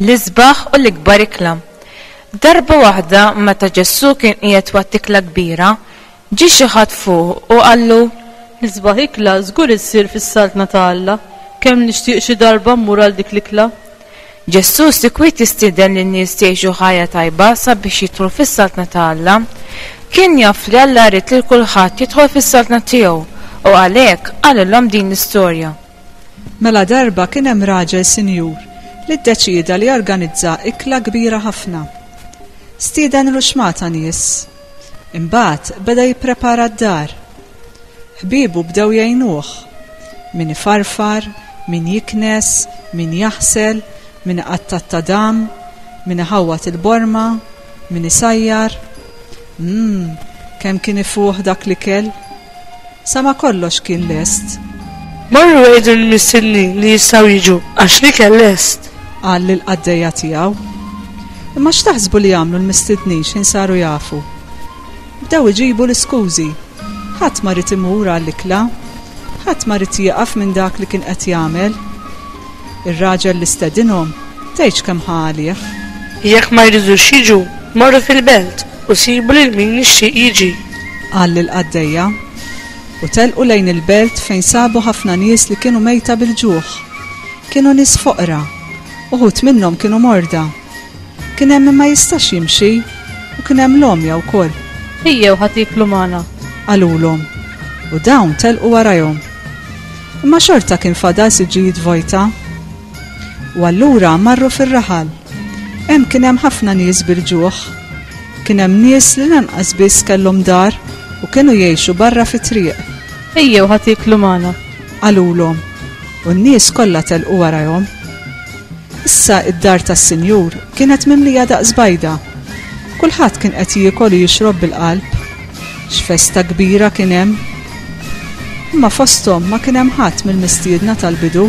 L-isbaħ u l-ikbar ikla. Darba waħda meta Ġessu kien qiegħed waqt ikla kbira, ġi xi ħadd fuq u qallu, L-isbaħ ikla żgur issir fis-Saltna ta' Alla, kemm nixtieq xi darba mmur għal dik l-ikla. Ġesù sikwit jistieden lin-nies jgħixu ħajja tajba sabiex jidħlu fis-Saltna ta' Alla. Kien jaf li Alla jrid lil kulħadd jidħol fis-Saltna tiegħu, u għalhekk qalilhom din l-istorja. Mela darba kien hemm raġel sinjur li ddeċieda li jorganizza ikla kbira ħafna. Stieden ruxmata nies Imbagħad beda jipprepara d-dar. Ħbiebu bdew jgħinuh. Min ifarfar, min jiknes, min jaħsel, min iqatta' t-tadam, min iħawwad il-borma, min isajjar. Umm, kemm kien ifuħ dak l-ikel! Sa ma kollox kien lest. Marru għidu lill-missienin li jistgħu jiġu, għax l-ikel lest. Qal lill-qaddejja tiegħu. Imma x'taħsbu li għamlu l-mistidnin x'ħin saru jafu? Bdew iġibu l-iskużi. Ħadd ma ried imur għall-ikla. Ħadd ma ried jieqaf minn dak li kien qed jagħmel. Ir-raġel li stedinhom, tgħidx kemm ħa għalih. Jekk ma jridux jiġu, morru fil-belt, U sibu lil min jixtieq jiġi. Qal lill-qaddejja. U telqu lejn il-belt fejn sabu ħafna nies li kienu mejta bil-ġuħ. Kienu nies foqra. Uħud minnhom kienu morda. Kien hemm min ma jistax jimxi, u kien hemm l-għomja wkoll. Ejjew ħa tieklu magħna. Qalulhom. U dawn telqu warajhom. Imma xorta kien fadal siġġijiet vojta. U allura marru fir-raħal. Hemm kien hemm ħafna nies bil-ġuħ. Kien hemm nies li lanqas biss kellhom dar u kienu jgħixu barra fit-triq. Ejjew ħa tieklu magħna. Qalulhom, u n-nies kollha telqu warajhom. Issa id-dar tas-Sinjur kienet mimlija daqs bajda. Kulħadd kien qed jiekol u jixrob bil-qalb. X'festa kbira kien hemm! Imma fosthom ma kien hemm ħadd mill-mistiedna tal-bidu.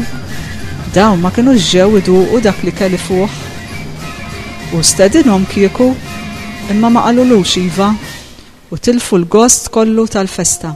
Dawn ma kinux ġew iduqu dak l-ikel ifuħ. Hu stedinhom kieku, imma ma qalulux iva, u tilfu l-gost kollu tal-festa.